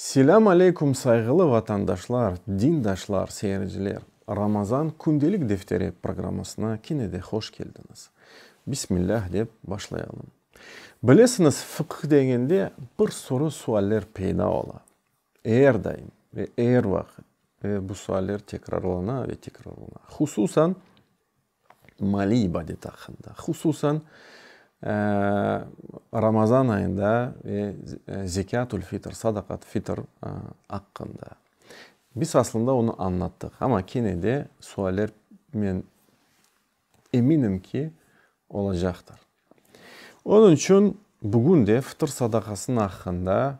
Selâm aleyküm sayğılı vatandaşlar, dindaşlar, seyirciler! Ramazan kündelik defteri programmasına kene de hoş keldiñiz. Bismillah dep başlayalım. Bilesiñiz, fıqh degende bir sürü sualler peyda ola. Er daim ve er vaqıt ve bu sualler tekrarlana ve tekrarlana. Hususan. maliy ibadeti aqqında, hususan Ramazan ayında ve Zekâtul fitr, Sadaqat fitr, aqqında. Biz aslında onı añlattıq, amma kene de sualler, men eminim ki, olacaqtır. Onıñ içün bugün de fitr sadaqasınıñ aqqında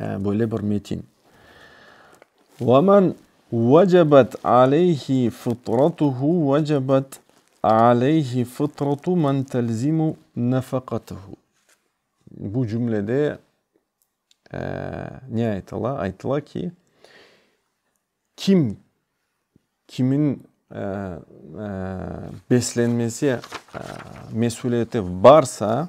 böyle bir metin. Ve men vecebet aleyhi fıtratuhu vecebet aleyhi fıtratu men telzimu nefekatuhu. Bu cümlede ne aytıla? Aytıla ki, kim kimin beslenmesi mesüliyeti barsa,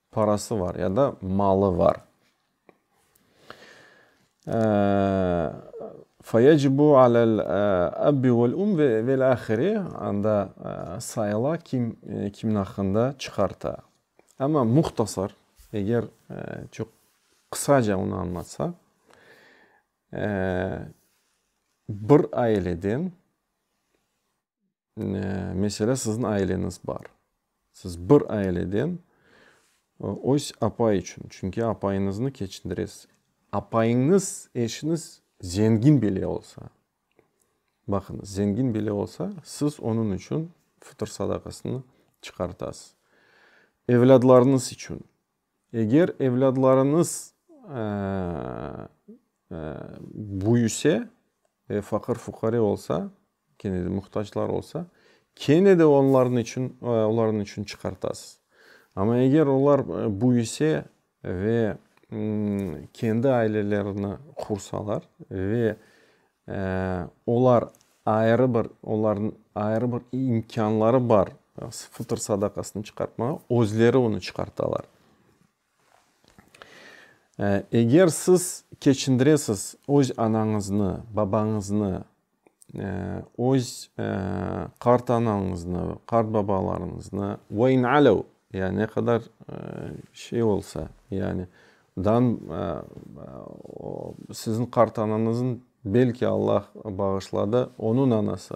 Parası var ya da malı var. Feyecibu alel ebbi vel um ve vel ahiri anda sayıla kim kimin aqqında çıqarta. Amma muhtasar eger çoq qısaca onı anlatsa bir aileden Meselâ, siziñ aileñiz bar. Siz bir aileden öz apay içün, çünki apayıñıznı keçindiresiz. Apayıñız eşiñiz zengin bile olsa, baqıñız, zengin bile olsa, siz onıñ içün fıtır sadaqasını çıqartasız. Evlâdlarıñız içün, eger evlâdlarıñız büyüse ve faqır-fuqare olsa, Kene de muhtaclar olsa, kene de onlarnıñ içün, olarnıñ içün çıqartasız. Amma eger olar büyüse ve kendi ailelerini qursalar ve olar ayrı bir, olarnıñ ayrı bir imkânları bar fıtır sadaqasını çıqartmağa, özleri onı çıqartalar. Eger siz keçindiresiz öz anañıznı, babañıznı, öz qartanañıznı, qartbabalarıñıznı, ve in alev, ya ne qadar şey olsa, yani dan siziñ qartanañızıñ, belki Allah bağışladı, onıñ anası,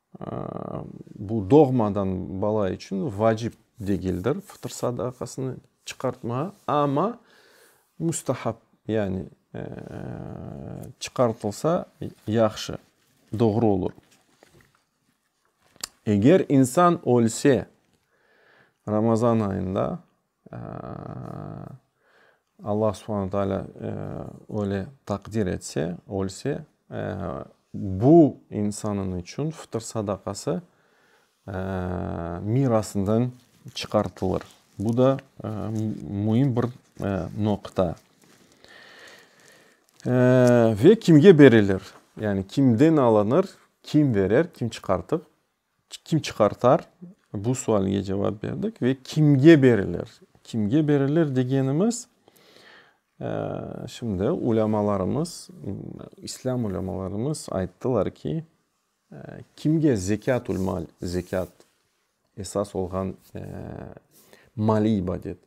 Bu doğmadan bala içün vacip degildir fıtır sadaqasını çıqartmağa, amma müstahap, yani çıqartılsa yahşı, doğru olur. Eger insan ölse Ramazan ayında, Allah Subhane Taala öyle takdir etse, ölse, bu insanın içün fıtır sadakası mirasından çıqartılır. Bu da müim bir noqta. Ve kimge berilir? Yani kimden alınır, kim verer, kim çıqartır? Kim çıqartar? Bu sualge cevap berdik ve kimge berilir? Kimge berilir degenimiz, şimdi ulâmalarımız, islâm ulâmalarımız ayttılar ki, kimge zekât-ül-mal, zekât esas olğan maliy ibadet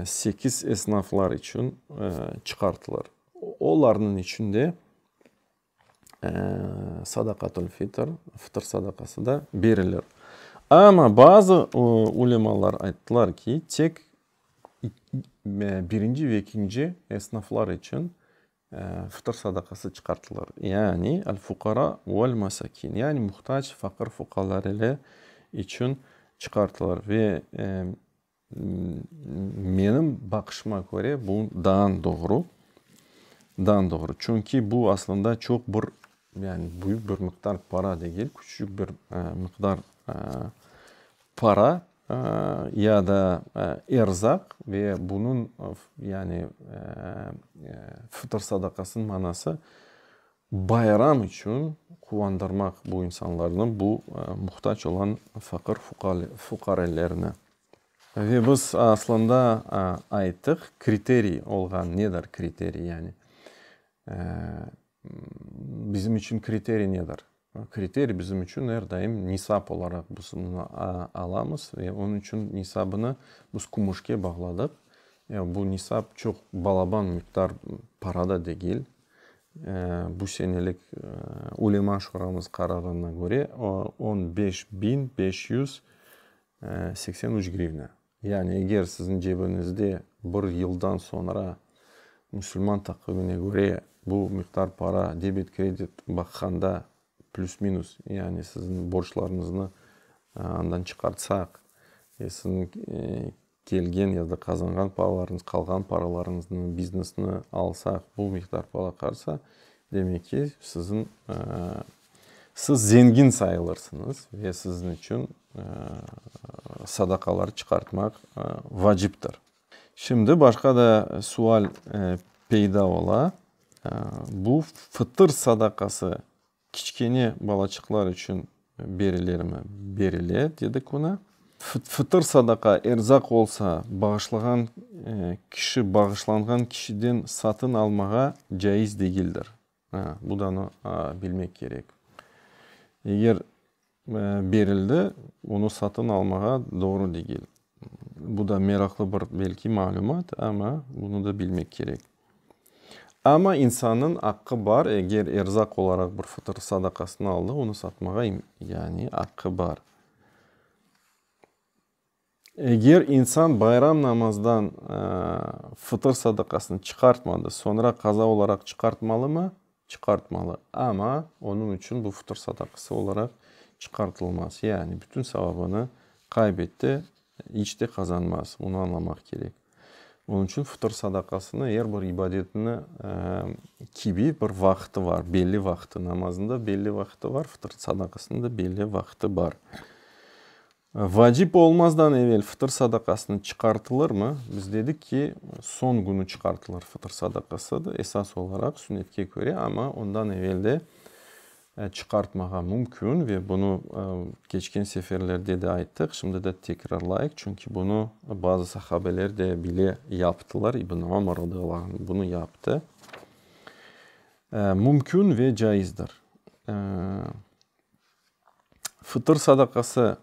sekiz esnaflar içün çıqartılır. Olarnıñ içinde sadaqatül fitr, fıtır sadaqası da berilir. Amma bazı ulemalar ayttılar ki, tek birinci ve ikinci esnaflar içün fıtır sadaqası çıqartılır. Yani el-fuqara ve'l-mesakin, yani muhtac, faqır, fuqalar ile içün çıqartılır. Ve Menim baqışıma köre, bu daan doğru, daan doğru. Çünki bu aslında çoq bir, yani büyük bir miqdar para degil, küçücik bir miqdar para ya da erzaq ve bunıñ, yani fıtır sadaqasınıñ manası, Bayram içün quvandırmaq bu insanlarnı, bu muhtac olan faqır fuqarelerni. Ve biz aslında ayttıq, kriteriy olğan nedir, kriteriy yani? Bizim içün kriteriy nedir? Kriteriy bizim içün er daim nisap olaraq biz bunı alamız ve onıñ içün nisabını biz kümüşke bağladıq. Bu nisap çoq balaban miqdar para da degil. Bu senelik Ulema şuramız qararına köre, on beş biñ beş yüz seksen üç grivna. Yani eger siziñ cebiñizde bir yıldan soñra musulman taqvimine köre bu miqdar para debet-kredit baqqanda plüs-minus, yani siziñ borclarıñıznı andan çıqartsaq, siziñ Kelgen ya da qazanğan paralarıñız, qalğan paralarıñıznı, biznesni alsaq, bu miqdar para qalsa, demek ki, siziñ, siz zengin sayılırsıñız ve siziñ içün sadaqalar çıqartmaq vaciptir. Şimdi başqa da sual peyda ola, bu fıtır sadaqası Kiçkene balaçıqlar içün berilermi? Berile, dedi Kuna. Fıtır sadaqa, erzaq olsa, bağışlağan kişi bağışlanğan kişiden satın almağa caiz degildir. Bu da bilmek kerek. Eger Berildi, onı satın almağa doğru degil. Bu da meraqlı bir belki malümat, amma bunı da bilmek kerek. Amma insannıñ aqqı bar, eger erzaq olaraq bir fıtır sadaqasını aldı, onı satmağa, yani aqqı bar. Eger insan bayram namazdan fıtır sadaqasını çıqartmadı, soñra qaza olaraq çıqartmalımı? Çıqartmalı. Amma onıñ içün bu fıtır sadaqası olaraq çıqartılmaz. Yani bütün savabını qaybetti, iç de qazanmaz. Bunı añlamaq kerek. Onıñ içün fıtır sadaqasını er bir ibadetni kibi bir vaqtı bar, belli vaqtı. Namazında belli vaqtı bar, fıtır sadaqasında belli vaqtı bar. Vacip olmazdan evel fıtır sadaqasını çıqartılırmı? Biz dedik ki, soñ günü çıqartılır fıtır sadaqası da, esas olaraq, sünnetke köre, amma ondan evel de çıqartmağa mümkün ve bunı keçken seferlerde de ayttıq, şimdi de tekrarlayıq, çünki bunı bazı sahabeler de bile yaptılar, İbn Ömer radıyallahu anh bunı yaptı. Mümkün ve caizdir. Fıtır sadaqası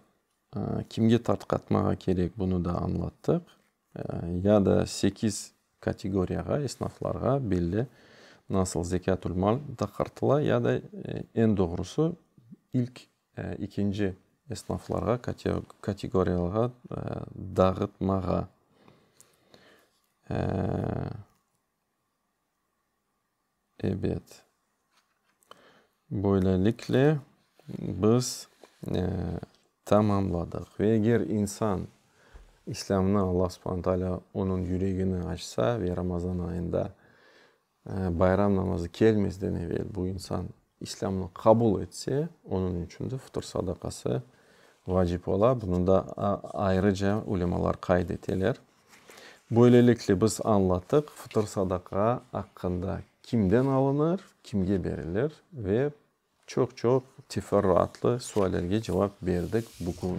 kimge tarqatmağa kerek, bunı da añlattıq. Ya da sekiz kategoriyağa, esnaflarğa belli, nasıl zekât-ül-mal taqartıla, ya da eñ doğrusı, ilk, ikinci esnaflarğa, kategoriyalarğa dağıtmağa. Ebet. Böylelikle, biz tamamladıq. Ve eger insan İslâmnı, Alla subhane taalâ onıñ yüregini açsa ve Ramazan ayında bayram namazı kelmezden evel bu insan İslâmnı qabul etse, onıñ içün de fıtır sadaqası vacip ola. Bunı da ayrıca ulemalar qayd eteler. Böylelikle, biz añlattıq fıtır sadaqa aqqında, kimden alınır, kimge berilir ve çoq-çoq teferruatlı suallerge cevap berdik bugün.